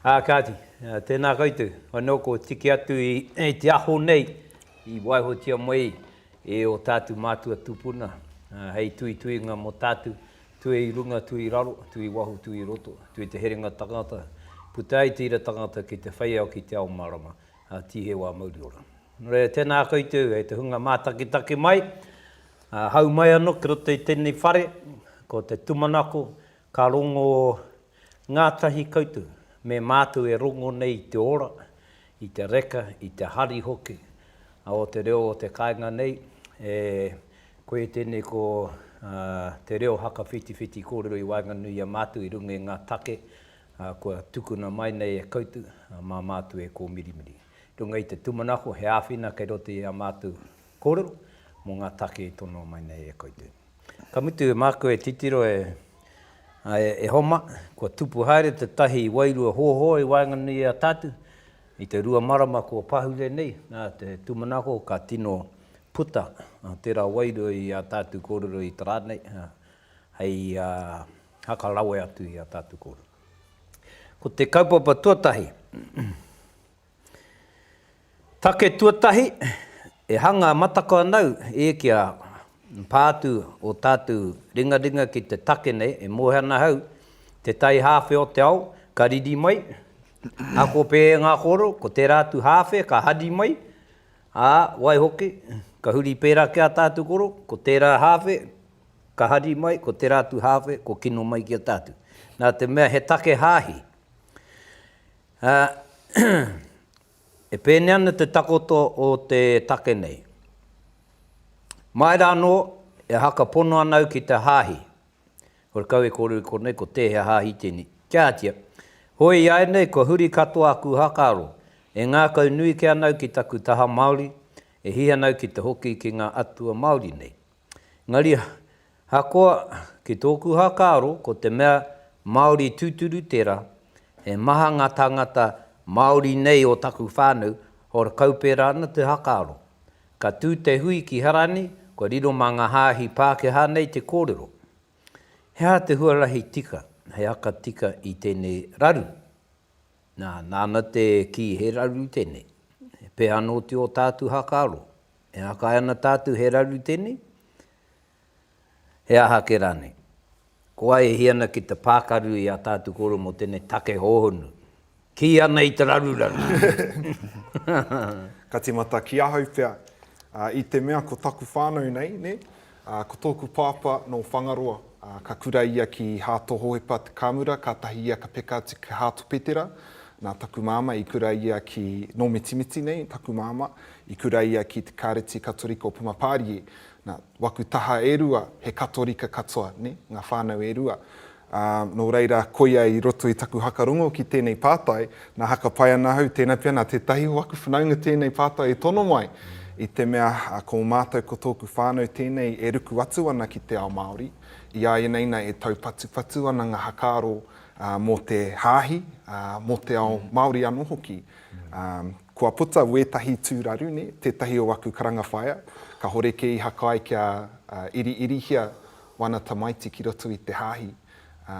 Ā kāti, tēnā koutou, anō kua tiki atu i te aho nei i waihotia mai e ō tātou mātua tūpuna hei tuituinga mō tātou, tue i runga, tue i raro, tue i waho, tue i roto, tue te herenga tangata, puta ai te ira tangata ki te whai ao, ki te ao mārama, ā, tīheu ā mauri ora. Nō reira, tēnā koutou, e te hunga mātakitaki mai, Hau mai anō ki roto i tēnei whare, ko te tūmanako, ka rongo ngātahi koutou me mātou e rongo nei i te ora, i te reka, i te hari hoki o te reo o te kāinga nei. E koe tēnei ko te reo hakawhitiwhiti kōrero i waenganui i a mātou i runga i ngā take kua tukuna mai nei e koutou mā mātou e kōmirimiri. Runga i te tūmanako, he āwhina kei roto i a mātou Kōrero mō ngā take i tonoa mai nei e koutou. Ka mutu, māku e titiro e, āe, e Homa, kua tupu haere tētahi wairua hōhō i waenganui i a tātou, i te rua marama kua pahure nei, nā te tūmanako ka tino puta tērā wairua i ā tātou kōrero i te rā nei, hei haka rawe atu i ā tātou kōrero. Ko te kaupapa tuatahi, Take tuatahi, e hanga matakaanau e kia pā atu o tātou ringaringa ki te take nei, e moe ana ahau, te tai hāwhe o te ao ka riri mai, ako pē e ngā koro, ko tērā atu hāwhe ka hari mai, ā, waihoki, ka huri pērā ki a tātou koro, ko tērā hāwhe ka hari mai, ko tērā atu hāwhe ko kino mai ki a tātou. Nā te mea he take hāhi, Ā, e pēnei ana te takoto o te take nei. Mai rā anō, e haka pono ana au ki te hāhi. Kore kau e kōrero i konei ko tēhea hāhi tēnei. Kia ātia, hoi iāianei kua huri katoa aku hakaaro, e ngākau nui kē ana au ki taku taha Māori, e hihi ana au ki te hoki ki ngā atua Māori nei. Engari, ahakoa, ki tōku whakaaro, ko te mea Māori tūturu tērā, he maha ngā tāngata Māori nei o taku whānau, hora kau pērā ana te whakaaro. Ka tū te hui ki Harani, kua riro mā ngā hāhi Pākehā nei te kōrero. He aha te huarahi tika, he haka tika i tēnei raru? Nā, nāna te kī he raru tēnei. He pēhana oti ō tātu whakaaro? E akae ana tātou he raru tēnei? He aha ake rānei? Ko wai e hia ana ki te pākaru i ā tātou kōrero mō tēnei take hōhonu? Kī ana i te raruraru! Ka tīmata ki ahau pea, i te mea ko taku whānau nei, nē? Ā, ko tōku pāpā nō Whangaroa, ā, ka kura ia ki Hāto Hohepa Te Kāmura, kātahi ia ka peka atu ki Hāto Petera. Nā taku māmā i kura ia ki, nō Mitimiti nei taku māmā, i kura ia ki te Kāreti Katorika o Pumapārie. Nā, waku taha e rua, he Katorika katoa, nē, ngā whānau e rua. Ā, nō reira, koia i roto i taku haka rongo ki tēnei pātai, nā haka pai ana ahau, tēnā pea nā tētahi o aku whanaunga tēnei pātai e tono mai, i te mea, ko mātou ko tōku whānau tēnei e ruku atu ana ki te ao Māori, i a ianei nei e taupatupatu ana ngā hakaaro mō te hāhi, mō te ao Māori anō hoki. Ā, kua puta wētahi tūraru, nē, tētahi o aku karanga whaea, kāhore kē i haka ai kia iriirihia wana tamaiti ki roto i te hāhi, ā.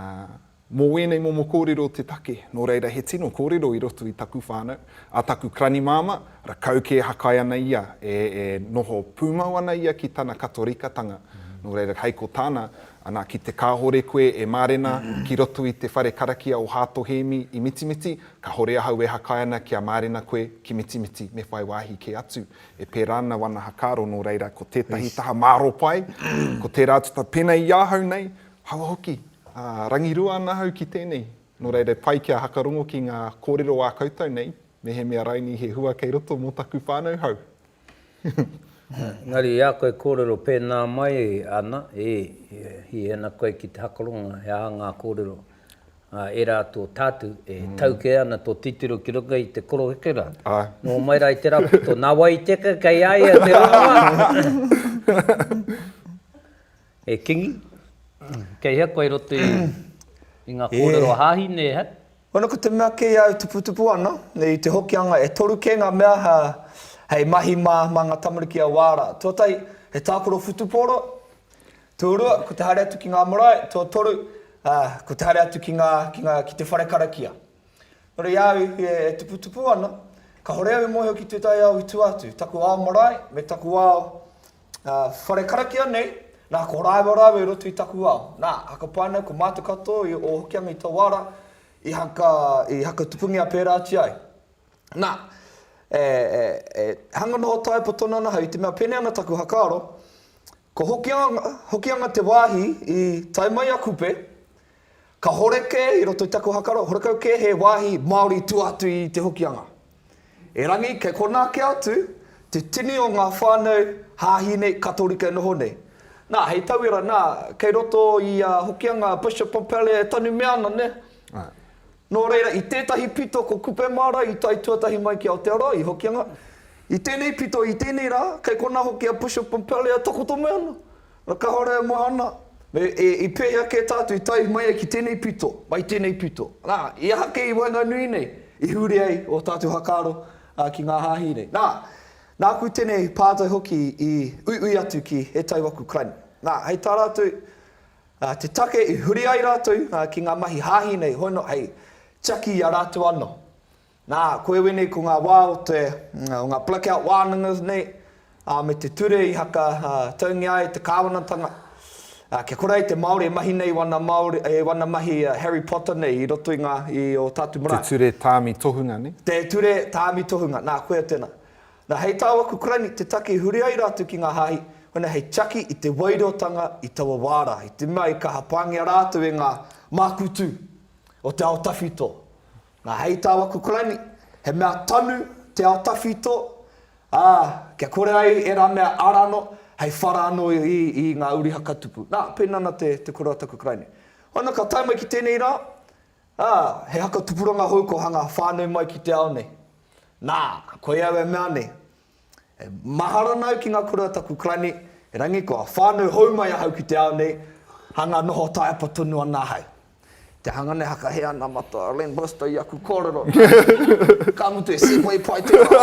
Mō wēnei momo kōrero te take, nō reira he tino kōrero i roto i taku whānau, a taku kranimāma, rakau kē hakai ana ia, e, e noho pūmau ana ia ki tana Katorikatanga, nō reira hei ko tāna, ana ki te kāore koe e mārena ki roto i te whare karakia o Hāto Hēmi i Mitimiti, kāore ahau e hakai ana kia mārena koe ki Mitimiti, me whai wāhi kē atu E pērā ana wana hakaaro nō reira ko tētahi taha māro pai, ko tērā tata pēnei i ahau nei, hawa hoki, ā, rangirua ana ahau ki tēnei. Nō reira e pai kia hakarongo ki ngā kōrero ā koutou nei, mehemea raini he hua kei roto mō taku whānau hou. Engari i a koe e kōrero pēnā mai ana, ē, hihena koe ki te hakarongo he aha ngā kōrero ā, e rā tō tātu e tau kē ana tō titiro ki runga i te koroheke rā. Nō mai rā i te raputo, nā wai i teka kei a ia te rongoā? E Kingi, kei hea koe i roto i ngā kōrero a Hāhi nē hea? Wena ko te mea kei au tuputupu ana, i te Hokianga e toru kē ngā mea hei mahi mā, mā ngā tamariki a wā rā. Tuatahi, he tākaro whutupōro. Tuarua, ko te haere atu ki ngā marae, tuatoru, ā, ko te haere atu ki ngā, ki ngā, ki te whare karakia. Nō reira, i a au i whie e tuputupu ana, kāore au i mōhio ki tētahi ao i tua atu, taku ao marae me taku ao, ā, whare karakia nei, nā, ko rāua rāua i roto i taku ao. Nā, hakapaina ko mātou katoa i ō Hokianga i taua ara i haka, i hakatupungia pērā atu ai. Nā, e, e, e hanga noho tae poto noa ana ahau, i te mea pēnei ana taku whakaaro, Ko Hokianga te wāhi i tae mai a Kupe. Kahore kē i roto i taku hakaro, horekau kē he wāhi Māori i tua atu i Te Hokianga. Erangi, kei konā kē atu te tini o ngā whānau hāhi nei, Katorika e noho nei. Nā, hei tauira, nā, kei roto i a Hokianga, Bishop Pompallier e tanumia ana, nē? Āe. Nō reira, i tētahi pito ko Kupe Māra i tae tuatahi mai ki Aotearoa, i Hokianga. I tēnei pito, i tēnei rā, kei konā hoki a Bishop Pompallier e takoto mai ana. Nā, ka haere au mahana, me, e, i pēhea kē tātou i tae mai ai ki tēnei pito, mai tēnei pito. Nā, i aha kē i waenganui nei i huri ai ō tātou whakaaro, ā, ki ngā hāhi nei? Nā, nāku tēnei pātai hoki i uiui atu ki ētahi o aku kai nei. Nā, hei tā rātou, Ā, te take i huri ai rātou ki ngā mahi hāhi nei hono hei tiaki i a rātou anō. Nā, ko iwi nei ko ngā wā o te, o ngā blackout wānanga nei, ā, me te ture i haka taungia ai te kāwanatanga. Ā, kia kore ai te Māori e mahi nei i wana Māori, i wana mahi Harry Potter nei i roto i ngā, i ō tātou marae. Te ture tāmi tohunga nei? Te ture tāmi tohunga, nā, koia tēnā. Na hei tāu aku karaini te taki huri ai rātou ki ngā hāhi, hona hei tiaki i te wairotanga i taua wā rā, i te mea i kaha pāngia rātou e ngā māku tū o te ao tawhito. Na hei tāu aku karaini, he mea tanu te ao tawhito, ā, kia kore ai ērā mea ara anō, hei whara anō i ngā uri hakatupu. Na, pēnā ana te koroa taku karaini. Hona ka tae mai ki tēnei rā, Ā, he haka tupuranga hou kua hanga whānui mai ki te ao nei. Nā, koia au e mea nei, E mahara ana au ki ngā kura o taku Karani, erangi kua whānui hou mai ahau ki te ao nei, hanga noho taiapa tonu ana ahau. Te hanga nei hakahe ana matua a Len Bristow i aku kōrero, nā reira, ka mutu e segway pai te wā.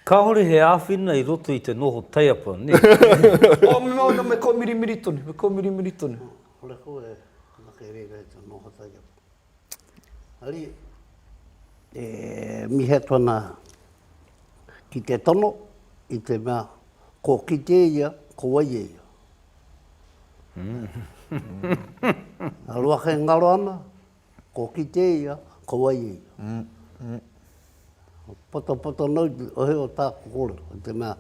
Kāore he āwhina i roto i te noho taiapa, nē? Ō, me mea, nō, me kōmirimiri tonu, me kōmirimiri tonu. Kore koe e anake e reira e te noho taiapa. Ari, e mihi atu ana ki te tono i te mea ko kite ia, ko wai e ia. Ngaro ake ngaro ana, Ko kite ia, ko wai ia. Patapato nau te ohe o tāku kōrero, i te mea,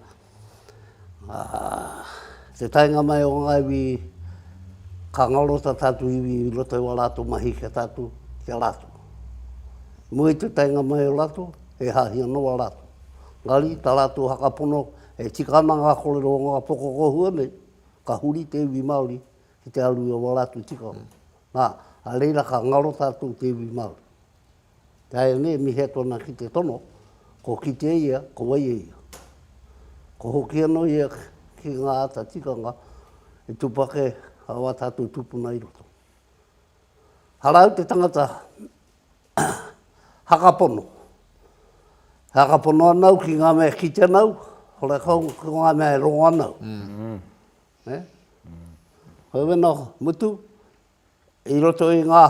te taenga mai o ngā iwi, ka ngaro tā tātou iwi i roto i wā rātou mahi ki a tātou, ki a rātou. Mua i te taenga mai o rātou, e hāhi ana wā rātou. Engari, tā rātou whakapono, e tika ana ngā kōrero o ngā pokokohua nei, ka huri te iwi Māori ki te aru i a wā rātou tikanga. Ā, a reira ka ngaro tātou te iwi Māori. Ināianei e mihia tōna ki te tono, ko kitea ia, ko waia ia. Ko hoki anō ia ki ngā āta tikanga i tūpake ā tātou tūpuna i roto. Arā au te tangata hakapono. E hakapono ana au ki ngā mea e kite ana au, ora kau ko ngā mea e rongo ana au. Hei wena mutu, i roto i ngā,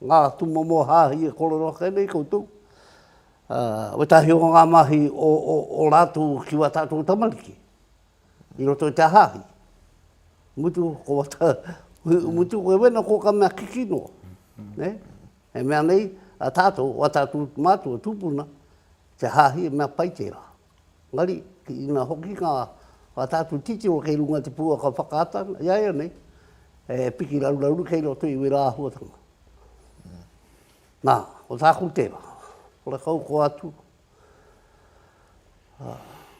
ngā tūmomo hāhi e kōrero ake nei koutou, wētahi o ngā mahi o, o, o rātou ki wā tātou tamariki, i roto i te hāhi. Mutu, ko wata, mutu, koe wena ko ka mea kiki noa. Ne? E mea nei, a tātou, wā tātou mātou tūpuna, te hāhi e mea pai tērā. Engari, ki ina hoki ngā whakatātu titiro kei runga i te pouaka whakaata i a ia nei, he piki raruraru kei roto i wērā āhuatanga. Nā, ko tāku tērā, horekau koa atu,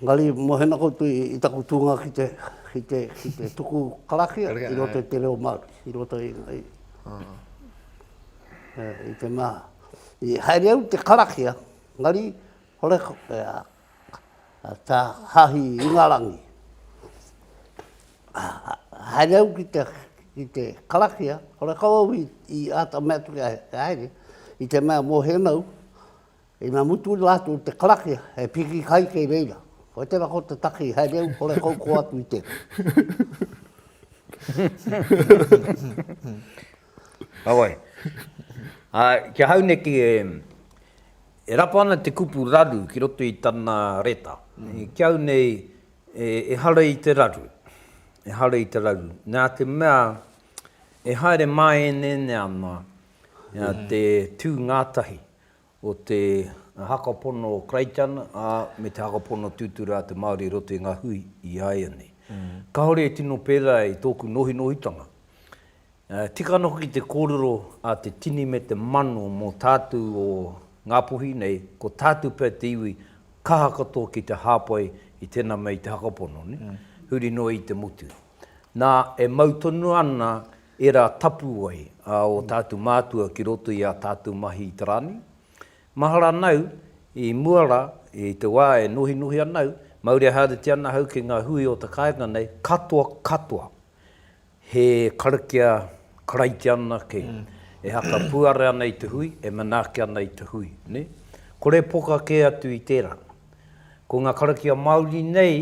engari mohena koutou i taku tūnga ki te, ki te, ki te tuku karakia i roto i te reo Māori, i roto i, i, i te mea, i haere au i te karakia, engari, Horekore a Ta Hahi Ingarangi. Haere au ki te, ki te karakia, horekau au i, i ata mea atu kia haere, i te mea mo henau, i na mutu ina atu te karakia, he piki kai kei reira. Koe tera ko te taki, haere au, horekau ko atu i te. Awai. Ā, kia hauneti e. E rapa ana te kupu raru ki roto i tana reta. Ki au nei, ehara i te raru. Ehara i te raru. Nā te mea, e haere māeneene ana te tū ngātahi o te haka pono o Creighton, ā, me te haka pono tūturu a te Māori i roto i ngā hui i a ia nei. Kāore e tino pērā i tōku nohinohitanga. Tika ana hoki te kōrero a te tini me te mano mō tātu o Ngāpuhi nei, ko tātu pea te iwi kaha katoa ki te hāpai i tēnā mea i te hakapono, huri noa i te motu. Nā, e mau tonu ana ērā tapuwae a ō tātu mātua ki roto i ā tātu mahi i te rā nei. Mahara ana au, i mua rā, i te wā e nohinohi ana au, maureharetia ana au ki ngā hui o te kāinga nei, katoa katoa. He karakia karaiti anake e haka puare ana i te hui, e manaaki ana i te hui, ne? Kore poka kē atu i tērā. Ko ngā karakia Māori nei,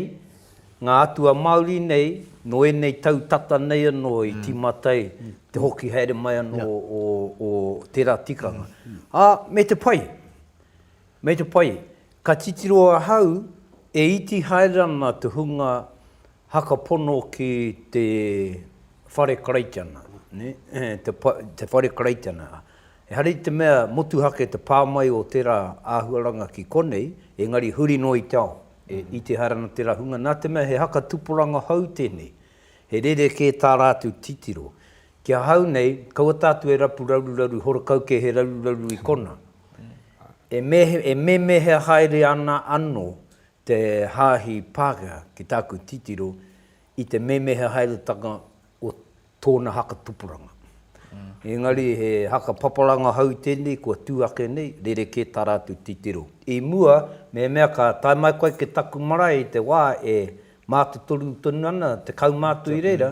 ngā atua Māori nei, nō ēnei tau tata nei anō i tīmata ai te hoki haere mai anō o tērā tikanga. Ā, me te pai, me te pai, ka titiro ahau e iti haere ana te hunga Haka pono ki te whare Karaitiana, te whare Karaitiana. Ehara i te mea motuhake te pā mai o tērā āhuaranga ki konei, engari huri noa i te ao, i te haere ana tērā hunga, nā te mea he haka tupuranga hou tēnei, he rerekē tā rātou titiro. Ki ahau nei, kaua tātou e rapu raruraru horekau kē he raruraru i konā. E mēmēhea haere ana anō Te Haahi Pākehā, ki tāku titiro, i te memeha haeretanga o tōna haka tupuranga. Engari he haka papalanga hou tēnei kua tū ake nei, rerekē tā rātou titiro. I mua, mehemea ka tae mai koe ki taku marae i te wā e mātotoru tonu ana te kaumātua i reira,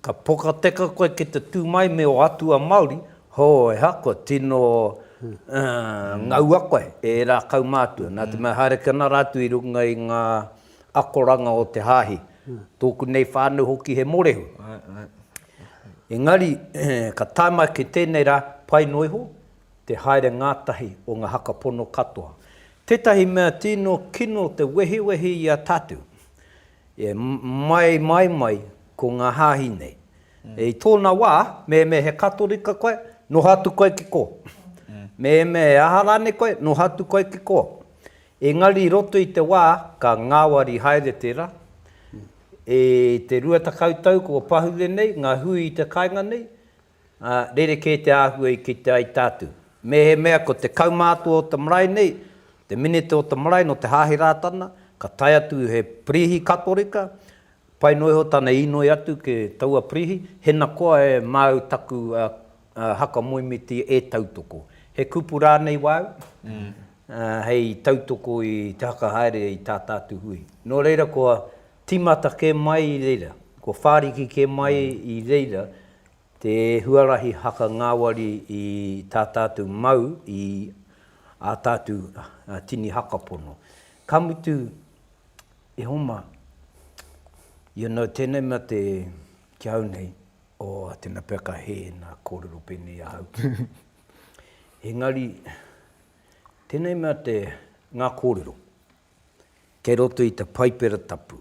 ka pokateka koe ki te tū mai me ō atua Māori, Hōheha, kua tino ngaua koe e ērā kaumātua, nā te mea haere ki ana rātou i runga i ngā akoranga o te Hāhi, tōku nei whānau hoki he mōrehu. Engari, ka tae mai ki tēnei rā, pai noa iho te haere ngātahi o ngā haka pono katoa. Tētahi mea tino kino te wehiwehi i a tātou, E mai, mai, mai, ko ngā hāhi nei. I tōna wā, mēmē he Katorika koe, noho atu koe ki kō. Mēmē he aha rānei koe, noho atu koe ki kō. Engari i roto i te wā, ka ngāwari haere tērā. I te rua tekau tau kua pahure nei ngā hui i te kāinga nei, Ā, rerekē te āhua i kite ai tātou. Mēhemea ko te kaumātua o te marae nei, te minita o te marae nō te Hāhi Rātana, ka tae atu he Prīhi Katorika, pai noa iho tana īnoi atu ki taua Prīhi, hena koa e māu taku haka moemiti e tautoko. He kupu rānei wāu, hei tautoko i te haka haere i tā tātou hui. Nō reira kua tīmata kē mai i reira, kua whāriki kē mai i reira Te huarahi haka ngāwari i tā tātou mau i ā tātou tini haka pono. Ka mutu, e Homa, you know, tēnei mea te, ki ahau nei, oh, tēnā pea ka hē nā kōrero pēnei i ahau. Engari, tēnei mea te, ngā kōrero, kei roto i te Paipera Tapu,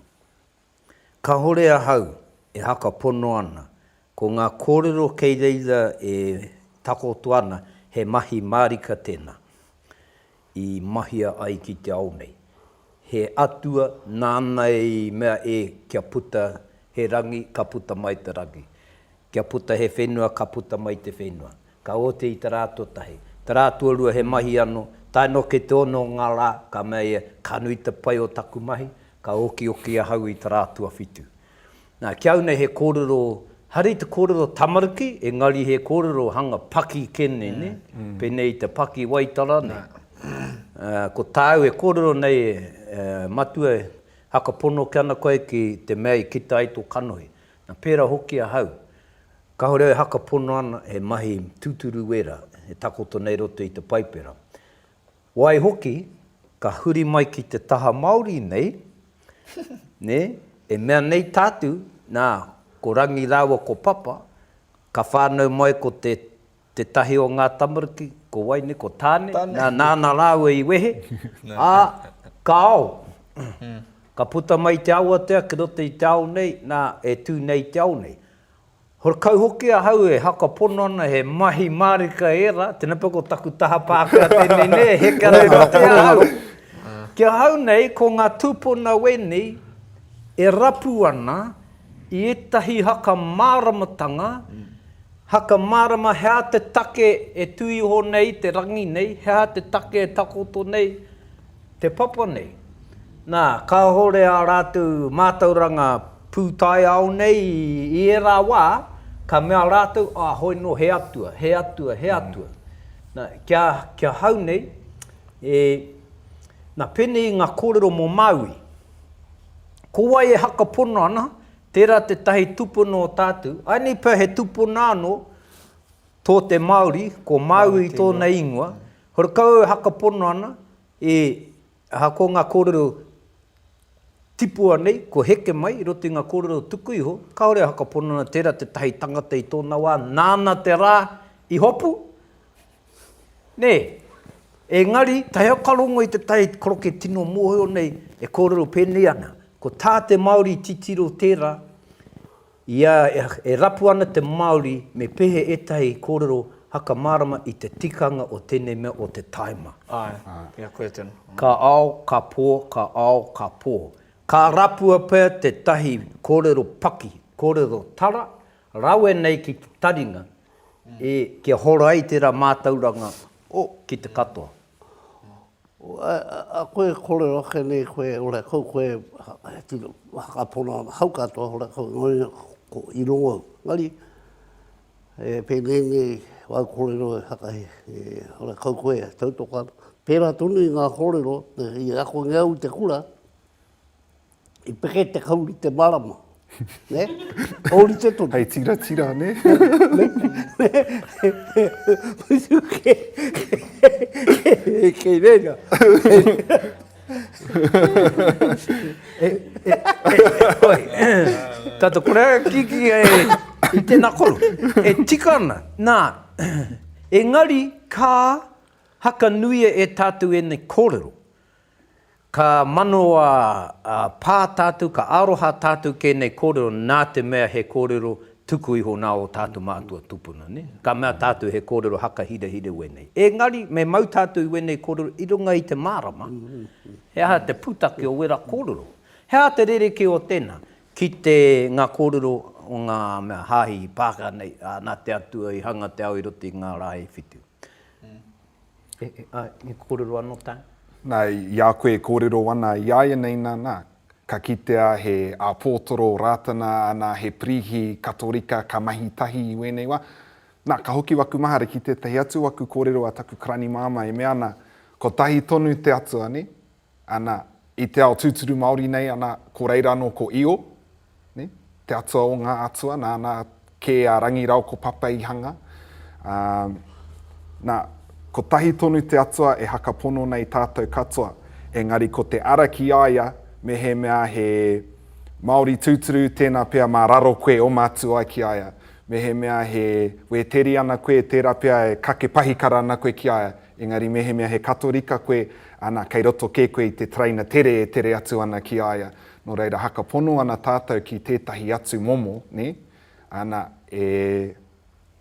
Kahore ahau e haka pono ana, ko nga korero kei reira e takoto ana he mahi marika tena i mahia ai ki te ao nei. He atua nana i mea e kia puta he rangi ka puta mai te rangi. Kia puta he whenua ka puta mai te whenua. Ka oti i te rā tuatahi, te rā tuarua he mahi anō, tae noa ki te ono o ngā rā, ka mea ia, ka nui te pai o taku mahi, ka okioki ahau i te rā tuawhitu. Nā, ki au nei he kōrero, haere i te kōrero tamariki, engari he kōrero hanga paki kē nei, nē? Pēnei i te paki waitara nei. Ko tāu e kōrero nei, e, Matua e, haka pono ke ana koe ki te mea i kita ai tō kanohi. Nā, pērā hoki ahau. Kāore au e hakapono ana he mahi tūturu wērā e takoto nei roto i te Paipera. Waihoki, ka huri mai ki te taha Māori nei, nē, e mea nei tātou, nā, ko Rangi rāua ko Papa, ka whānau mai ko te. Tētahi o ngā tamariki, ko wai nei, ko Tāne, nāna rāua i wehe, ā, ka ao. Ka puta mai i te awatea ki roto i te ao nei, nā, e tū nei i te ao nei. Horekau hoki ahau e haka pono ana he mahi mārika ērā, tēnā pea ko taku taha Pākehā tēnei nei e heke ana ki roto i a au. Ki ahau nei, ko ngā tūpuna wēnei e rapu ana i ētahi haka māramatanga, Haka mārama he aha te take e tū iho nei te rangi nei, he aha te take e takoto nei te papa nei. Nā, kāore ā rātou mātauranga pūtaiao nei i ērā wā, ka mea rātou, ā, hoi nō he atua, he atua, he atua. Nā, kia, kia hau nei, e, nā, pēnei i ngā kōrero mō Māui. Ko wai e haka pono ana, Tērā tētahi tūpuna o tātou, āinei pea he tūpuna anō tō te Māori, ko Māui tōna ingoa, horekau e hakapono ana, e, aha, ko ngā kōrero tipua nei, kua heke mai i roto i ngā kōrero tuku iho, kāore e hakapono ana tērā tētahi tangata i tōna wā, nāna te rā i hopu, Nē, engari, tae au ka rongo i te tai koroke tino mōhio nei e kōrero pēnei ana, ko tā te Māori i titiro tērā, i a, e rapu ana te Māori me pehe ētahi kōrero haka mārama i te tikanga o tēnei mea o te tāima. Āe, pea koe tonu. Ka ao, ka pō, ka ao, ka pō. Ka rapua pea tētahi kōrero paki, kōrero tara, Rawe nei ki te taringa e kia hora ai tera matauranga o ki te katoa. A koe e korero ake nei koe ora kau koe he tino whakapona ana hau katoa ora kau ngoi ko i rongo au. Engari e penei nei wau korero e haka he ora kau koe e tau toka ana. Pera tonu i nga korero i ako nge au i te kura I peke te kauri te marama. Ne? Ōrite tonu. Hei tiratira, ne? Mutu kē. Kei reira. Oi. Tata kore a Kiki i tēnā koro. E tika ana. Nā, engari ka hakanuia e tātou ēnei kōrero. Ka manawa pā tātou, ka aroha tātou ki ēnei kōrero nā te mea he kōrero tuku iho nā ō tātou mātua tūpuna. Ka mea tātou he kōrero haka hirahira wēnei. Engari, me mau tātou i wēnei kōrero i runga i te mārama, he aha te pūtake o wērā kōrero? He aha te rerekē o tēnā? Ki te, ngā kōrero o ngā mea hāhi i pāka nei, ā, nā te Atua i hanga te ao i roto i ngā rā e whitu. I kōrero anō tāu? Nā, i a koe e kōrero ana i a ianei nā, nā, ka kitea he āpōtoro o Rātana, anā, he Pirīhi Katorika ka mahi tahi i wēnei wā. Nā, ka hoki waku mahara ki tētahi atu o aku kōrero a taku karani māmā e mea ana, kotahi tonu te Atua, nē? Ana, i te ao tūturu Māori nei, ana, ko reira anō ko Io, ne, te atua o ngā atua, nāna kē a Rangi Rao ko Papeihanga. Ā, nā, kotahi tonu te atua e hakapono nei tātou katoa, engari ko te ara ki a ia mehemea he Māori tūturu tēnā pea mā raro koe oma atu ai ki a ia, mehemea he Wēteriana koe tērā pea e kake pahikara ana koe ki a ia, Engari mehemea he Katorika koe, ana, kei roto kē koe i te taraina tere e tere atu ana ki a ia. Nō reira, haka pono ana tātou ki tētahi atu momo, nē? Ana, e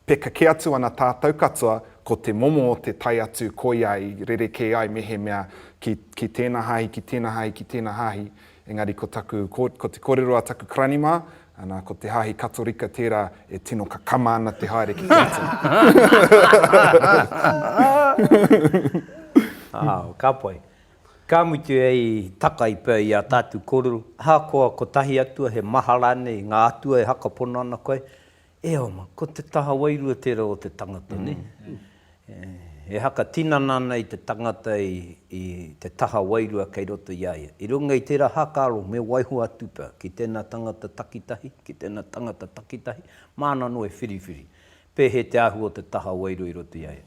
peka kē atu ana tātou katoa, ko te momo o te tae atu koia i rerekē ai mehemea ki, ki tēnā hāhi, ki tēnā hāhi, ki tēnā hāhi, Engari ko taku, ko te korero a taku karani mā, ana, ko te Hāhi Katorika tērā e tino kakama ana te haere ki te atua. Ao, ka pai. Ka mutu hei takai pea i a tātou korero, ahakoa kotahi atua, he maha rānei ngā atua e hakapono ana koe, E oma, ko te taha wairua tērā o te tangata, nē? He haka tinana ana i te tangata i te taha wairua kei roto i a ia. I runga i tērā hākaro, me waiho atu pea ki tēnā tangata takitahi, ki tēnā tangata takitahi, māna anō e whiriwhiri, pēhea te āhua o te taha wairua i roto i a ia.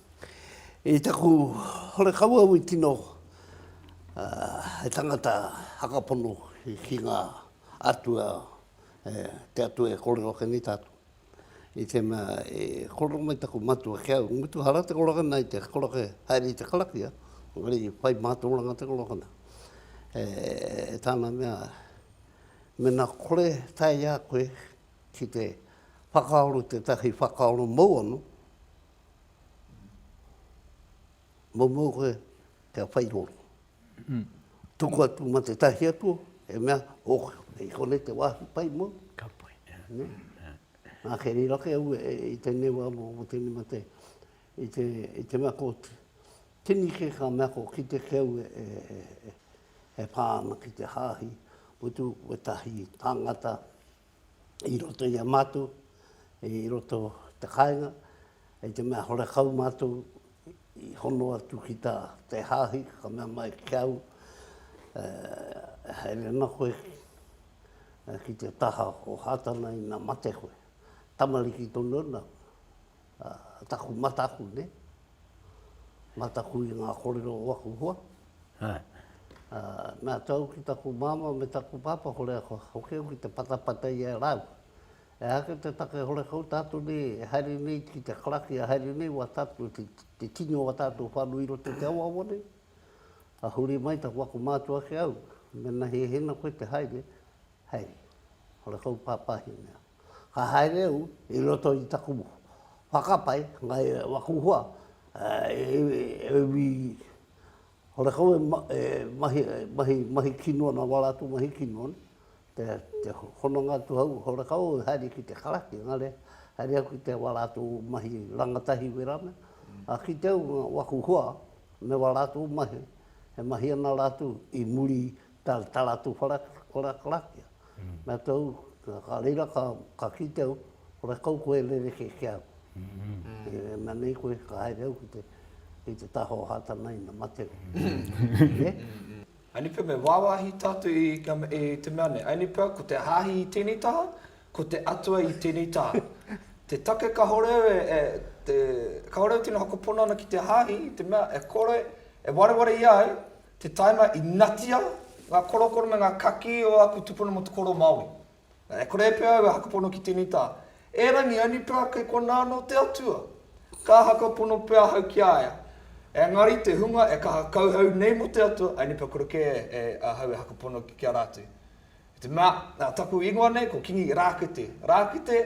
I taku horekau au i tino he tangata hakapono ki nga atua te atua e korero ake nei tatou i tena e korero mai taku matua ki au i mutu hara te korokona i te koroke haere i te karakia engari whai matoranga te korokona e tana mea mena kore tae ia koe ki te whakaaro tetahi whakaaro mau ano Momo koe kia whairoro. Tuku atu ma te tahi atu, e mea, ok, i konei te wāhi pai mōu. Ka pai. Nā ke rira ke au i tēnei wā mō tēnei mā tēnei. I te, i te mea ko tini kē ka mea ko kite ke au e pā ana ki te hāhi, whetū, whetahi, tāngata, i roto i a mātou, i roto i te kāinga, hei te mea horekau mātou i hono atu ki tā te Hāhi, ka mea mai ki au, e haere ana koe ki te taha o Hātana ina mate koe. Tamariki tonu ana. taku mataku nei, mataku i ngā kōrero o aku hoa. Nā te au ki taku māmā me taku pāpā, ko reira kua hoki au ki te patapata i a rāua. E hā kei te take, hore kau tātou nei e haere nei ki te karaki, e haere nei wā tātou, te tini o wā tātou whānau i roto i te awawa nei. Ka huri mai taku ako mātua ki au, mena hēhena koe te haere, haere. Hore kau pāpāhi mea. ka haere au i roto i taku whakapae mai waku hoa e wi hore kau e mahi kino ana wa ratou mahi kino te hononga atu au hore kau e haere ki te karaki engari haere au ki te wa ratou mahi rangatahi wera mea a kite au waku hoa me wa ratou mahi e mahi ana ratou i muri tā tā rātou wharakarakia. Nā tau, ka reira ka, ka kite au, hore kau koe e rereke ki au. E, mea nei koe, ka haere au ki te, ki te taha o Hātana ina mate. Aini pea me wāwāhi tātou i, i te mea nei. Aini pea, ko te hāhi i tēnei taha, ko te Atua i tēnei taha. Te take kāore au e, e te, kāore au tino hakopona ana ki te hāhi, i te mea, e kore, e wareware i a au, Te taima i natia nga korokoro me nga kaki o aku tupuna mo te koro Maori. E kore pea au e hakapono ki tenei ta, Erangi, aini pea kei kona ano te Atua. Ka hakapono pea ahau ki a ia. Engari te hunga e kaha kauhau nei mo te Atua, aini pea kore ke ahau e hakapono ki a ratu. I te mea, nā taku ingoa nei ko Kingi Rākete. Rākete,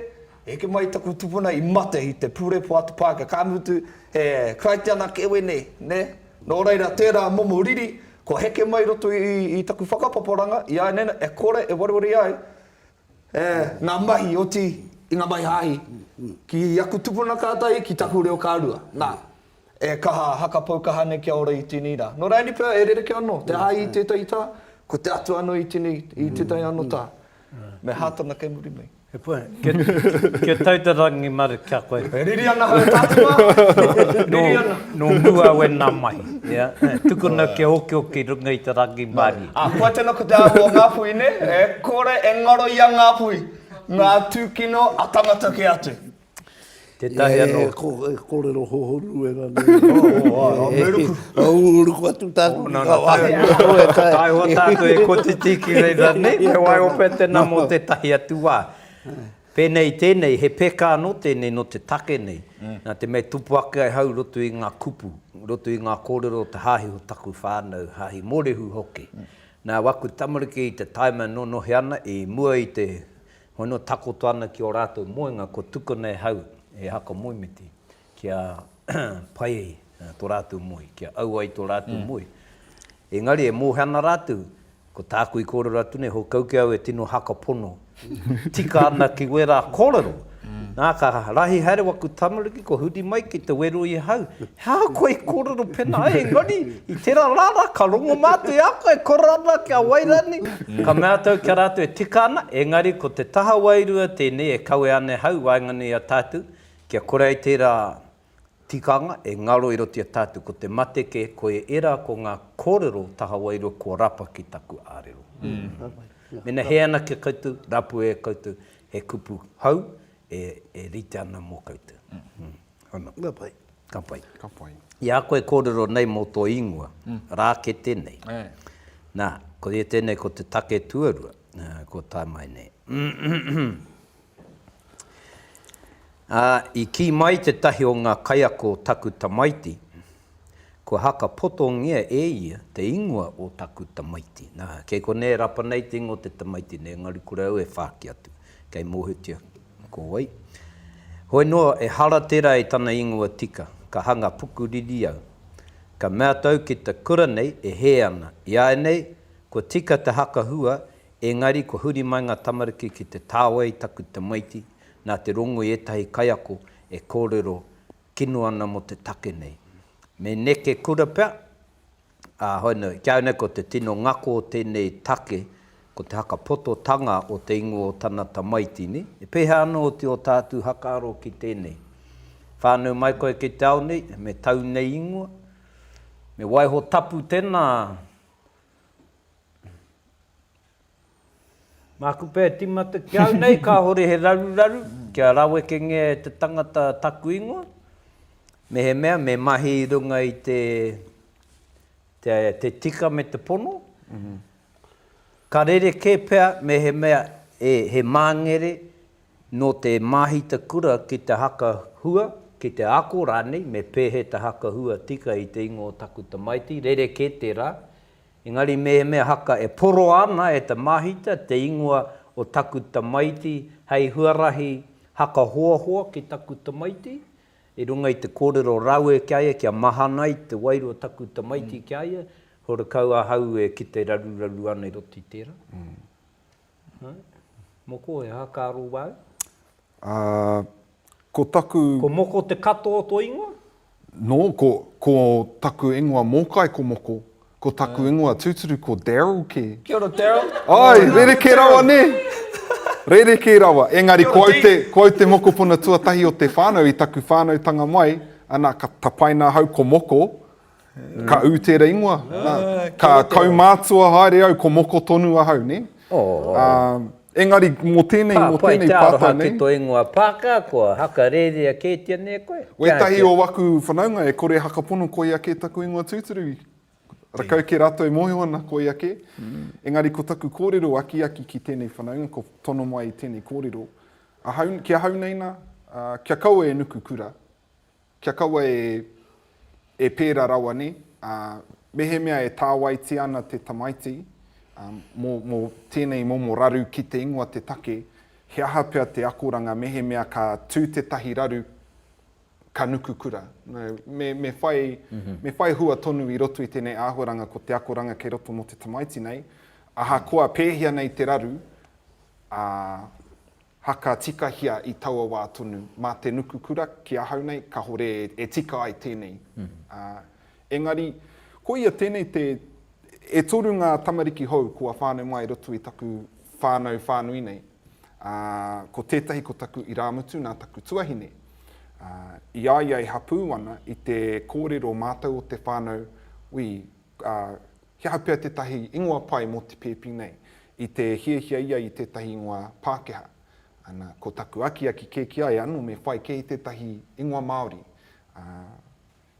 e heke mai taku tupuna i mate i te pure poatu Pākehā, ka mutu he Karaitiana kē wēnei, nē? Nō reira, tērā momo riri, kua heke mai i roto i taku whakapaparanga, i āianei nei, e kore e wareware ai ngā mahi, oti i ngā mahi hāhi, ki aku tupuna kātahi, ki taku reo ka rua. Nā. E kaha, haka pou kaha nei kia ora i tēnei rā. Nō reira pea, e rerekē anō, te āi i tētahi tā, ko te atu anō i tēnei, i tētahi anō tā. Me hā tana kei muri nei. He pai. Kia tau te rangi maru ki a koe. E riri ana hau tātou mā. Riri ana. Nō mua au e nā mahi. Ia, tukuna kia okioki i runga i te rangi maru. Ā, koa tēnā ko te āhua o Ngāpuhi, nē? E kore e ngaro i a Ngāpuhi ngā tūkino a tangata kē atu. Tētahi anō. Ia e, e kōrero hohonu e rānei. Oh, oh, oh, me ruku. Oh, ruku atu tāku. Oh, nana, tae hoa. Tae hoa tāku e kotiti ki rei rānei. Me wai o pē tēnā mō tētahi atu wā. Pēnei tēnei, he pēkā anō tēnei nō te take nei. Nā te mea tupu ake ai hau roto i ngā kupu, roto i ngā kōrero o te hāhi o taku whānau, hāhi mōrehu hoki. Nā waku tamariki i te taima e nōnohe ana, i mua i te Hono takoto ana ki ō rātou moenga kua tukuna e hau, e Haka Moemiti, kia pai tō rātou moe, kia au ai tō rātou moe. Engari e mōhio ana rātou, ko tāku i kōrero atu nei, hō kau ki au e tino haka pono tika ana ki wērā kōrero. Nā, ka rahi haere waku tamariki, kua huri mai ki te wero i ahau, Hā, koe i kōrero pēnā, engari, i tērā rā rā, ka rongo mā atu e a koe, kore ana kia wai rānei. Ka mea atu au ki a rātou e tika ana, engari ko te taha wairua tēnei e kawe ana e hau i waenganui i a tātou, kia kore ai tērā tikanga e ngaro i roto i a tātou, ko te mate kē, koia ērā ko ngā kōrero taha wairua kua rapa ki taku ārero. Mēnā he anake koutou, rapue e koutou, he kupu hou e rite ana mō koutou. Ana. Ka pai. Ka pai. Ka pai. I a koe e kōrero nei mō tō ingoa, Rākete nei. Ē. Nā, ko ia tēnei ko te take tuarua, kua tae mai nei. Ā, i kī mai tētahi o ngā kaiako o taku tamaiti, Kua haka potongia e ia te ingoa o taku tamaiti. Na, kei konei e rapa nei te ingoa o te tamaiti nei, engari kore au e whāki atu. Kei mōhiotia ko wai. Hoi noa, ehara tērā i tana ingoa tika. Ka hanga pukuriri au. Ka mea tau ki te kura nei e hē ana. Iāinei, kua tika te haka hua, engari kua huri mai ngā tamariki ki te tāwai taku tamaiti, nā te rongo i ētahi kaiako e kōrero kino ana mo te take nei. Me neke kura pea, a, hoina, kia aune ko te tino ngako o tenei take ko te haka-pototanga o te ingoa o tana tamaitini, e peha ana oti o tatu hakaaro ki tenei? Whanau mai koe ki te ao nei, me tau nei ingoa? Me waiho tapu tena? Māku pea e tīmata ki au nei kāore he raruraru kia rawekengia e te tangata taku ingoa, mehemea me mahi i runga i te te tika me te pono. Ka rerekē pea mehemea e he māngere nō te māhita kura ki te haka hua, ki te ako rānei me pēhea te haka hua tika i te ingoa o taku tamaiti, rerekē tērā. Engari mehemea haka e poroa ana e te māhita te ingoa o taku tamaiti hei huarahi haka hoahoa ki taku tamaiti i runga i te kōrero rawe ki a ia kia mahana ai te wairua o taku tamaiti ki a ia, horekau ahau e kite raruraru ana i roto i tērā. Moko, he aha ka aro wau? Ā, ko taku. Ko Moko te katoa o tō ingoa? Nō, ko, ko taku ingoa mōkai ko Moko, ko taku ingoa tūturu ko Darryl kē. Kia ora, Darryl. Āe, rerekē rawa nē? Rerekē rawa. Engari, ko au te, ko au te mokopuna tuatahi o te whānau i taku whānautanga mai, ana, ka tapaina ahau ko Moko, Ka ū tēra ingoa. Ka kaumātua haere au ko moko tonu ahau, nē? Engari mō tēnei, mō tēnei pātai nei. Ka pai te aroha ki tō ingoa Pākehā, kua haka rērea kētia nei koe? Wētahi o aku whanaunga e kore hakapono koia kē taku ingoa tūturu. Rakau kē rātou e mōhio ana koia kē. Engari ko taku kōrero akiaki ki tēnei whanaunga, ko tono mai i tēnei kōrero, ahau, ki ahau nei nā, kia kaua e nuku kura, Kia kaua e, e pērā rawa nei, ā, mehemea e tāwaitia ana te tamaiti, ā, mō, mō tēnei momo raru ki te ingoa te take, he aha pea te akoranga mehemea ka tū tētahi raru ka nuku kura. No, me, me whai, me whai hua tonu i roto i tēnei āhuaranga ko te akoranga kei roto mō te tamaiti nei, ahakoa pēhea nei te raru, ā, Haka tikahia i taua wā tonu, mā te nuku kura ki ahau nei kahore e tika ai tēnei. Ā, engari, koia tēnei te, e toru ngā tamariki hou kua whānau mai i roto i taku whānau whānui nei. Ā, ko tētahi ko taku irāmutu nā taku tuahine. Ā, i a ia e hapū ana i te kōrero mātau o te whānau, ui, ā, he aha pea tētahi ingoa pai mō te pēpi nei, i te hiahia ia i tētahi ingoa Pākehā. Ana, ko taku akiaki kē ki a ia, anō me whai kē i tētahi ingoa Māori. Ā,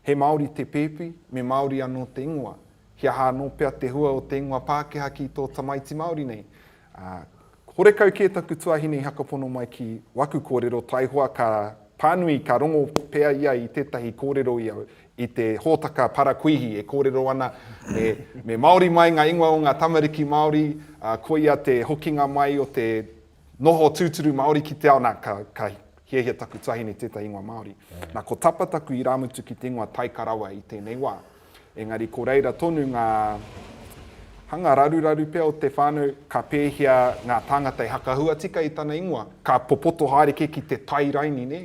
he Māori te pēpi, me Māori anō te ingoa. He aha anō pea te hua o te ingoa Pākehā ki tō tamaiti Māori nei? Ā, Horekau kē taku tuahine i hakapono mai ki waku kōrero taihoa ka pānui ka rongo pea ia i tētahi kōrero i a i te hōtaka Parakuihi e kōrero ana me me Māori mai ngā ingoa o ngā tamariki Māori, ā, koia te hokinga mai o te noho tūturu Māori ki te ao, nā, ka, ka hiahia taku tuahine tētahi ingoa Māori. Nā, ko Tapa taku irāmutu ki te ingoa Taika rawa i tēnei wā. Engari ko reira tonu ngā hanga raruraru pea o te whānau, ka pēhia ngā tāngata e hakahua tika i tana ingoa, ka popoto haere kē ki te tai raini, nē,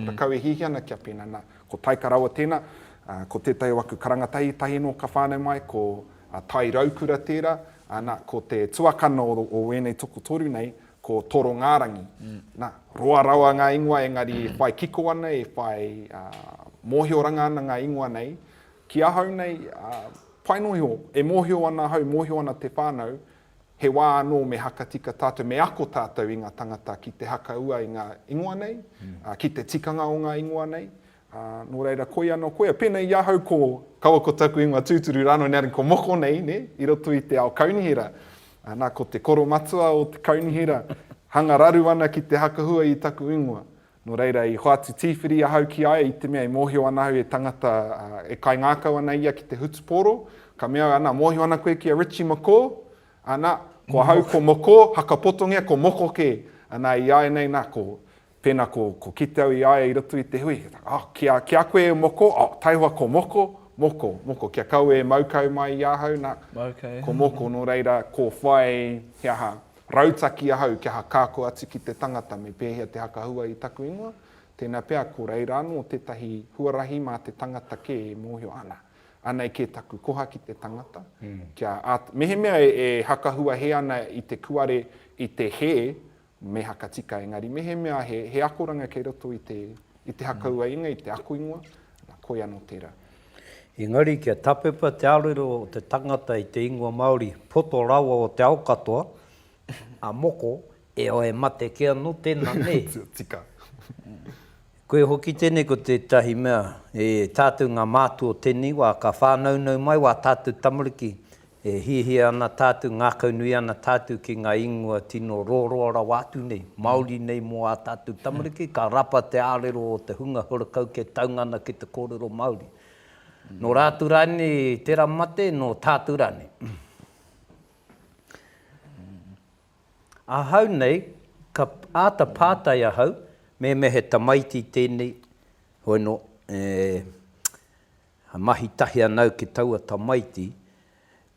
rakau e hiahia ana kia pēnā, nā, ko Taika rawa tēnā, ā, ko tētahi o aku karanga tahi, tahi anō ka whānau mai, ko Tai Raukura tērā, ā, nā, ko te tuakana o, o ēnei tokotoru nei, Ko Torongārangi, nā, roa rawa ngā ingoa engari e whai kiko ana, e whai mōhioranga ana ngā ingoa nei. Ki ahau nei, pai noa iho, e mōhio ana ahau, e mōhio ana te whānau, he wā anō me hakatika tātou, me ako tātou i ngā tangata ki te hakaua i ngā ingoa nei, ki te tikanga o ngā ingoa nei, Ā, nō reira, koia anō, koia, pēnei i ahau ko kaua ko taku ingoa tūturu rānō nē, engari ko moko nei, nē, i roto i te ao kaunihera. Ā, nā, ko te koro matua o te kaunihera, hanga raru ana ki te hakahua i taku ingoa. Nō reira, i hoatu tīwhiri ahau ki a ia i te mea i mōhio ana au he tangata, ā, e kaingākau ana ia ki te hutupōro, ka mea au, Anā, mōhio ana koe ki a Richie McCaw? Anā, ko ahau ko Mokō, hakapotongia ko moko kē. Anā, i āianei, nā, ko, Pēnā ko, ko kite au i a ia i roto i te hui, oh, ki a, ki a koe e moko, oh, taihoa ko moko, moko, moko, kia kaua e mau kau mai i ahau, nā, ko moko, nō reira, ko whai, he aha, rautaki ahau kia hakaako atu ki te tangata me pēhea te hakahua i taku ingoa, tēnā pea ko reira anō tētahi huarahi mā te tangata kē e mōhio, ana, anei kē taku koha ki te tangata, kia, ā, mehemea e, e hakahuahē ana i te kuare, i te hē, Me haka tika engari mehemea he, he akoranga kei roto i te, i te haka ua inga, i te ako ingoa, na, koi ano tera. Engari kia tapepa te arero o te tangata i te ingoa Maori, poto rawa o te ao katoa, a moko, e o e mate ke ano tena, ne? tika. Koe hoki tenei ko tetahi mea, e tatu nga mātua o tenei wa ka whānaunau mai wa tatu tamariki E hiahia ana tātou, ngākaunui ana tātou ki ngā ingoa tino roroa rawa atu nei, māori nei mō ā tātou tamariki, ka rapa te ārero o te hunga horakau kia taunga ana ki te kōrero Māori. Nō rātou rānei tērā mate, nō tātou rānei. Ahau nei, ka āta pātai ahau, mēmea he tamaiti tēnei, hoino, e, He mahi tahi anau ki taua tamaiti,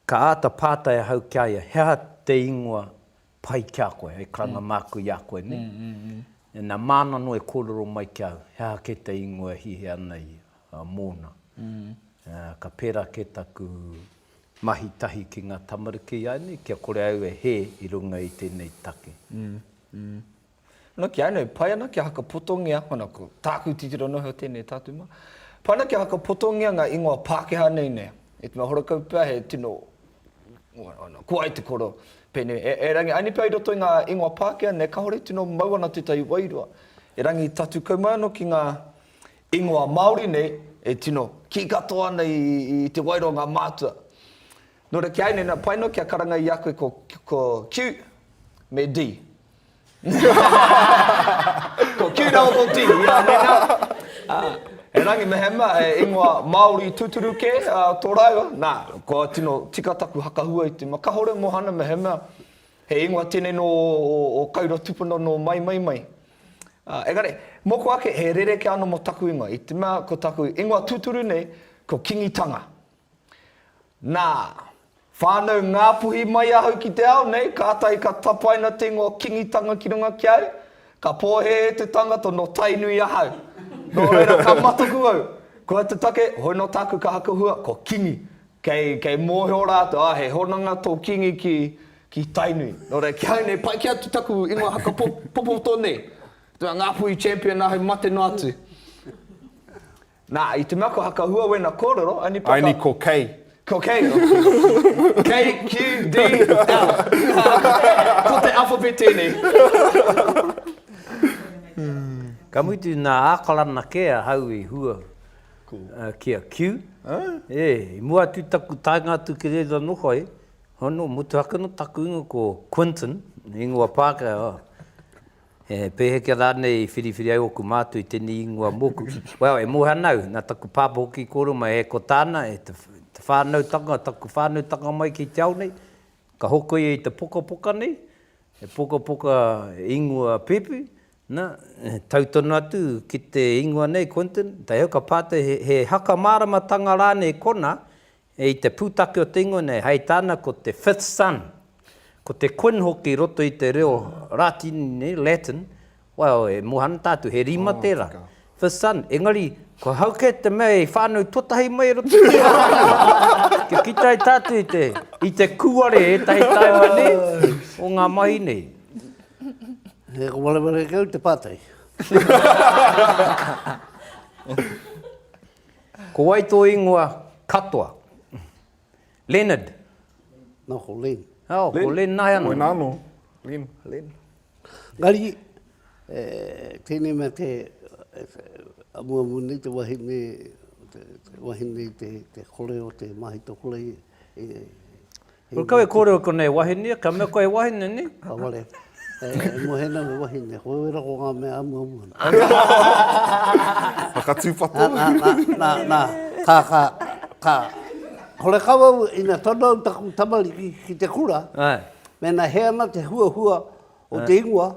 ka āta pātai ahau ki a ia, he aha te ingoa pai ki a koe, hei karanga māku i a koe nei? Nā, māna noa e kōrero mai ki au, he aha kē te ingoa e hiahia ana ia mōna. Ka pērā kē taku mahi tahi ki ngā tamariki ināianei kia kore au e hē i runga i tēnei take. Nō ki a nei, pai ana kia hakapotongia, mana ko tāku titiro noho tēnei tatuma, pai ana kia hakapotongia ngā ingoa Pākehā nei nei, e te mea horakau pea he tino, ko ai te koro, pēnei, e rangi ani pea i roto i ngā ingoa Pākehā nei, kāore i tino mau ana tētahi wairua, e rangi tatu kau mai anō ki ngā ingoa Māori nei, e tino kī katoa ana i te wairua o ngā mātua. Nō reira ki a nei, pai noa kia karanga i a koe ko Q me D. Ko Cute Owl ko Tihi, ā, mēnā. Ā, he rangi mehemea, he ingoa Māori tūturu kē, ā, tō rāua. Nā, kua tino tika taku hakahua i te ma. Kahore Mohana mehemea, he ingoa tēnei nō ō Kaura tupuna nō Maimai mai. Ā, engari, mōku ake, he rerekē anō mō taku ingoa, i te mea ko taku ingoa tūturu nei, ko Kingitanga. Nā, whānau Ngāpuhi mai ahau ki te ao nei, kātahi ka tapaina te ingoa Kingitanga ki runga ki au. Ka pōhēhē te tangata nō Tainui ahau. Nō reira, ka mataku au, kua te take, hoi nō tāku ka hakahua, ko Kingi. Kei, kei mōhio rātou, ā, he hononga tō Kingi ki, ki Tainui. Nō reira, ki ahau nei, pai kē atu taku ingoa haka popoto nei. Ngāpuhi champion ahau mate noa atu. Nā, i te mea ko Hakahua wēna kōrero, only paka. Only ko Kei. Ko Kei. KQDL. Ko te alphabet tēnei. Ka mutu nā Ākarana kē ahau i hua ki a Q. E, i mua atu i taku taenga atu ki reira nō whai, hono, motuhake nō taku ingoa ko Quinton, ingoa Pākehā. He pēheka rānei i whiriwhiri ai ōku mātua i tēnei ingoa mōku? Well, e Moehana au, nā taku pāpā hoki i kōrero mai e ko tāna, e te whānautanga, taku whānautanga mai ki te ao nei, ka hoko ia i te pukapuka nei, he pukapuka ingoa pēpi, nā, tau tonu atu ki te ingoa nei, Quinton, heoi ka pā atu he haka māramatanga rānei kona I te pūtake o te ingoa nei, hei tāna ko te fifth son, ko te Quin hoki i roto i te reo Rātini nei, Latin, well, e moe ana tātou, he rima tērā, fifth son, engari, kua hau kē te mea i whānau tuatahi mai i roto i tērā wāhanga, kia kitea ai tātou i te, i te kūare ētahi taima nei, o ngā mahi nei. He kōmarama rākau te pātai. Ko wai tō ingoa katoa? Leonard. Nā, ko Len. Oh, Len. ko Len nāi anō. Koina anō. Len. Len. Engari, e, tēnei mea te, amuamu nei te wahine, te, te wahine te, te kore o te māhitokore, e, Ko kau e kōrero ko nei wahine, ka mea koe he wahine, ni? Ka wale. E moe nei he wahine, ko au e rako ngā mea a mua mua. Whakatūpato. Nā, nā, nā, nā, ka, ka, ka, hore kau au, ina tono au taku tamariki ki te kura, mēnā he ana te huahua o te ingoa,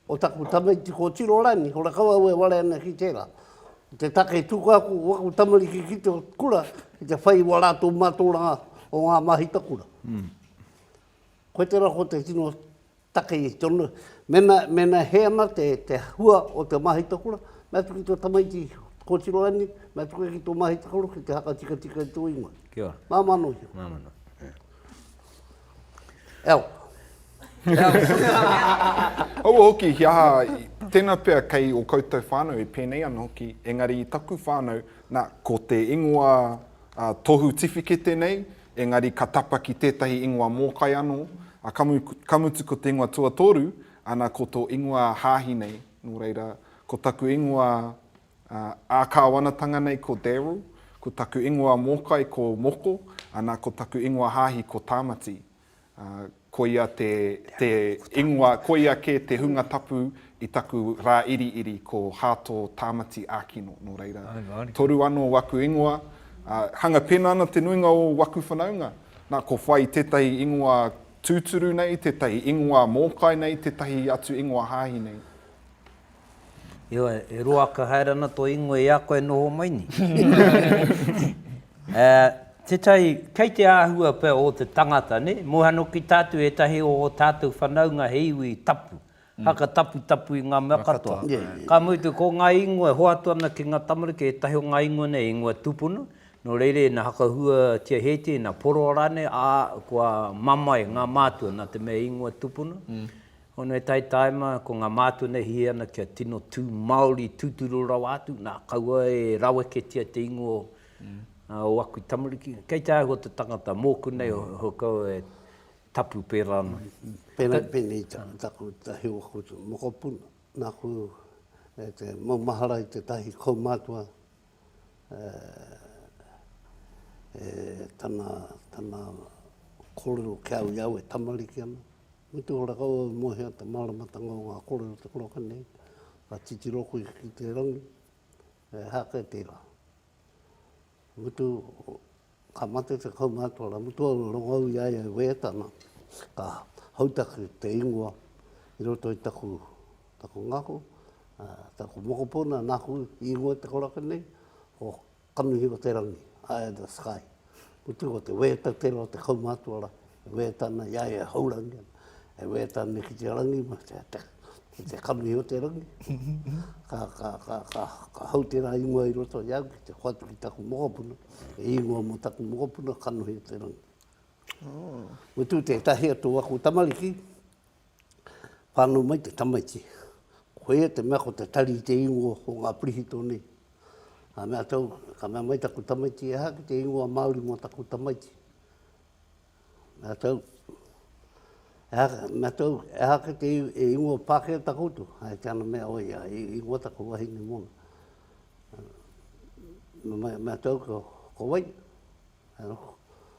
O taku tamaiti ko Tiro Rani, ko Rakau aue ware ana ki tera. Ko te take tuku aku o aku tamariki ki te kura ki te whai wa ratou matoranga o nga mahi takura. Koe tera ko te tino take i tonu, mena, mena he ana te, te hua o te mahi takura, mea tuku to tamaiti ko Tiro Rani, mea tuku ki to mahi takura ki te hakatikatika i to ingoa. Kia ora. Mamanohi. Mamanohi. Elk. Kaua hoki, he aha, tena pea kei o koutou whanau e penei ana hoki, engari i taku whanau, na, ko te ingoa tohu tiwhikete nei, engari ka tapa ki tetahi ingoa mokai ano, a ka mutu ko te ingoa tuatoru, ana ko to ingoa hahi nei, no reira, ko taku ingoa Ā Kāwanatanga nei ko Darryl, ko taku ingoa mōkai ko Moko, ana ko taku ingoa hāhi ko Tāmati. Koia te te ingoa, koia kē te hunga tapu i taku rā iriiri ko Hāto Tāmati Ākino, nō reira, toru anō waku ingoa, ā, hanga pēnā ana te nuinga o waku whanaunga, nā, ko whai tētahi ingoa tūturu nei, tētahi ingoa mōkai nei, tētahi atu ingoa hāhi nei. Heoi, e roaka haere ana tō ingoa i a koe e noho mai nei. Tētahi, kei te āhua pea o te tangata, nē? Moha noki tātou ētahi o ō tātou whanaunga he iwi tapu, haka taputapu i ngā mea katoa. Ka mutu, ko ngā ingoa e hoatu ana ki ngā tamariki, ētahi o ngā ingoa nei he ingoa tūpuna, nō reira ina hakahuatia hētia, ina poroa rānei, ā, kua mamae ngā mātua nā te mea ingoa tūpuna. Honoi Taitaima, ko ngā mātua nei hē ana kia tino tū Māori tūturu rawa atu, nā, kaua e raweketia te ingoa o aku tamariki. Kei te āhua te tangata, mōku nei o Hokau e tapu pērā ana. Pēnei, pēnei taku takiwā, ko te mokopuna, nāku e te maumahara i tētahi kaumātua e tana, tana kōrero kia au i au e tamariki ana. Me te ora kau au mō hea te māramatanga o ngā kōrero te koraka nei, ka titiro koe ki te rangi, he aha kē tērā? Ka mutu, ka mate te kaumātua rā, mutu au e rongou i a ia e wehe tana, ka hautaki te ingoa i roto i taku, taku ngako, taku mokopuna, nāku i ingoa te koraka nei, ko Kanohi o te rangi, Eye of the sky. Mutu ko te wēta tērā o te kaumātua rā, e wēta ana i a ia e haurangi ana, e wēta ana ki te rangi, ki te kanohi o te rangi. Ka, ka, ka, ka, ka hau tērā ingoa i roto i a au ki te hoatu ki taku mokopuna, he ingoa mō taku mokopuna, Kanohi o te rangi. Mutu tētahi atu o aku tamariki, Whānau mai te tamaiti. Koia te mea ko te tari i te ingoa o ngā pirihitō nei. Ka mea tau, ka mea mai taku tamaiti, ehā ki te ingoa Māori mō taku tamaiti. Mea tau, ehā, mea tau, ehā ki te e ingoa Pākehā ta koutou. Hai te ana mea, oi, a, i, ingoa taku wahine mōna. Mea, mea tau, ko, ko wai?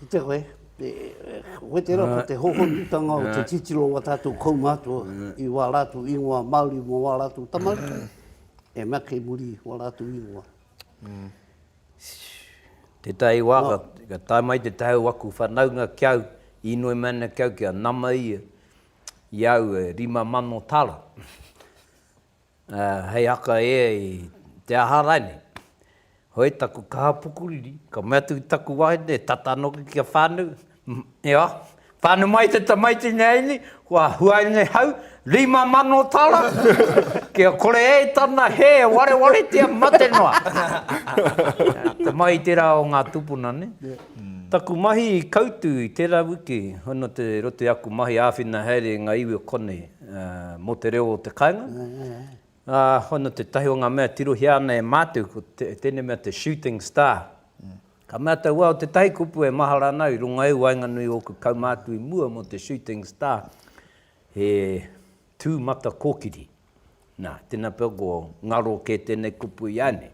Kite koe, koe tērā ko te hohonutanga o te titiro o tātou kaumātua i wā rātou ingoa Māori mō wā rātou tamariki, e mea kei muri wā rātou ingoa. Tētahi wā ka tae mai te tae o aku whanaunga ki au, inoi mai ana ki au kia nama ia i au e rima mano tara. ā, hei haka e i te aha rainei. Hoi taku kaha pukuriri, ka mea atu ki taku wahine, e tata anō ki kia whānau, ia, whānau mai te tamaiti nei nei, kua hua nei hau, rima mano tara, kia kore e tana hē e warewaretia mate noa. Te mahi i tērā o ngā tūpuna nei. Taku mahi i kautū i tērā wiki, hono te roto i aku mahi āwhina haere i ngā iwi o konei, mō te reo o te kāinga. Ā, hono tētahi o ngā mea e tirohia ana e mātou, ko tēnei mea te shooting star. Ka mea te wao, tētahi kupu e mahara ana au, i runga i waenganui ōku kaumātua i mua mō te shooting star, he tū mata kōkiri. Nā, tēnā pea ko ngaro kē tēnei kupu i a nei.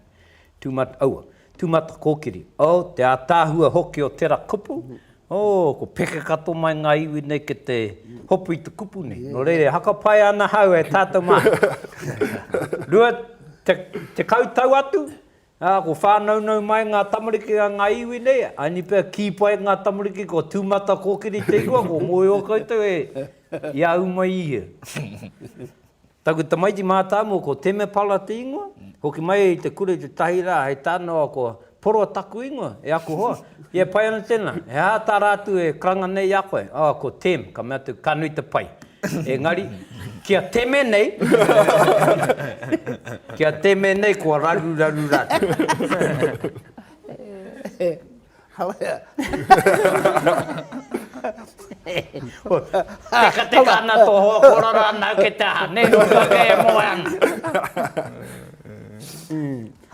Tūmat, aua. Tūmata kōkiri. Oh, te ātaahua hoki o tera kupu. Oh, ko pekekato mai ngā iwi nei ki te hopu i te kupu nei. Nō reira, e hakapae ana ahau e tātou mā. Rua te, tekau tau atu, ā, ko whānaunau mai ngā tamariki a ngā iwi nei, aini pea kī pai ngā tamariki ko tūmata kōkiri te ingoa, kua mōhio koutou e, i a au mai i ia. Taku tamaiti mātāmua ko Temepala te ingoa, hoki mai i te kura i te tahi rā hei tānoa ko Poroa taku ingoa, e aku hoa, i e pai ana tēnā, he aha tā rātou e karanga nei i a koe? Oh, ko Tem, ka mea atu, ka nui te pai. Engari, ki a Teme nei, ki a Teme nei kua raruraru rātou. Tekateka ana tō hoa kōrero rānau kei te aha, nē, nō kua kē e moe ana.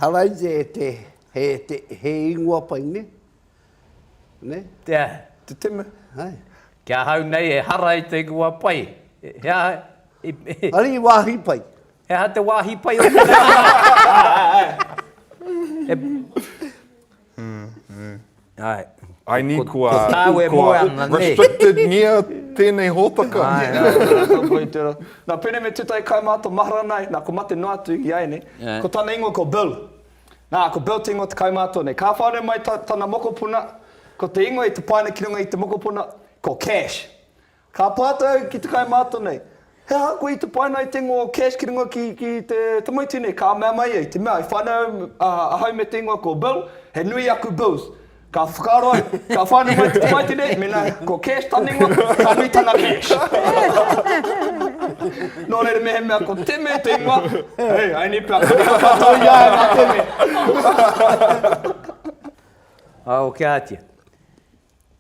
Haraia e te, he, he, he ingoa pai, nē? Nē? Te aha? Te teme. Hai. Ki ahau nei e hara ai te ingoa pai. He aha? Ari i wāhi pai. He aha te wāhi pai o te reo? I need kua restricted-ngia tēnei hōtaka. Nā Pene me Tutai kai mā tō mahara nā e, nā ko mate noa atu i a e nei. Ko tana ingoa ko Bill. Nā, ko Bill te ingoa o te kaimātua nei. Ka whānau mai tana mokopuna, ko te ingoa i te paina ki runga i te mokopuna, ko Cash. Ka pātai au ki te kaimātua nei, He aha koe i te paina i te ingoa o Cash ki runga ki te tamaiti nei? Ka mea mai ia, i te mea, i whānau ahau me te ingoa ko Bill, he nui aku Bills. Ka whakaaro au, ka whānau mai te tamaiti nei, mēnā ko Cash tana ingoa, ka nui tana cash. Nō reira mehemea ko Teme te ingoa, hei, aini pea ka riro katoa i a au a Teme. Aokiatia.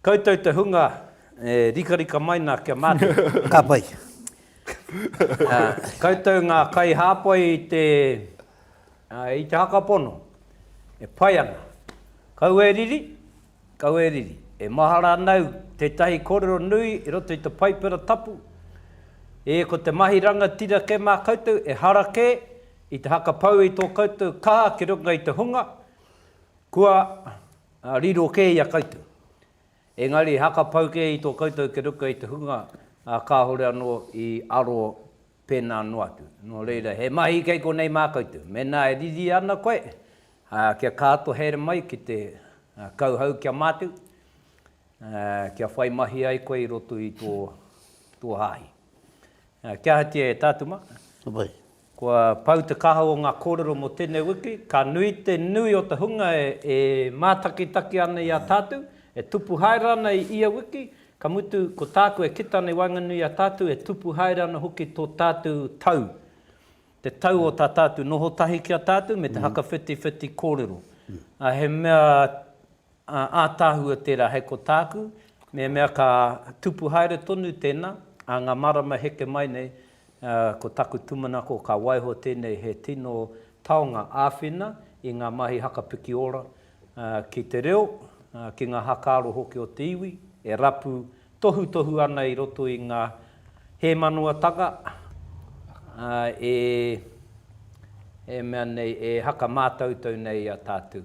Koutou te hunga e rikarika mai na kia mate. Ka pai. Koutou nga kai hapai i te i te haka pono e pai ana. Kau e riri, kau e riri. E mahara ana au tetahi korero nui i roto i te Paipera Tapu, e ko te mahi rangatira ke ma koutou e hara ke i te haka pau i to koutou kaha ki runga i te hunga kua Riro kē i a koutou. Engari haka pau kē i tō koutou keruka i te hunga kāore anō i aro pēnā noa atu. Nō reira, he mahi kei konei mā koutou. Mēnā e riri ana koe kia kāto haere mai ki te kauhau kia mātau, kia whai mahi ai koe i roto i tō hāhi. Kia ahatia e tātuma? Kua pau te kaha o ngā kōrero mō tēnei wiki, ka nui te nui o te hunga e mātakitaki ana i a tātou, e tupu haere ana i ia wiki, ka mutu ko tāku e kita ana i waenganui i a tātou e tupu haere ana hoki tō tātou tau, te tau o tā tātou noho tahi ki a tātou me te hakawhitiwhiti kōrero. He mea Ā, ātaahua tērā hei ko tāku, mehemea ka tupu haere tonu tēnā, ā ngā marama heke mai nei, ā, ko taku tūmanako ka waiho tēnei he tino taonga āwhina i ngā mahi hakapiki ora, ā, ki te reo, ā, ki ngā hakaaro hoki o te iwi, e rapu tohutohu ana i roto i ngā hēmanoatanga, ā, e, e mea nei, e hakamātautau nei i a tātou.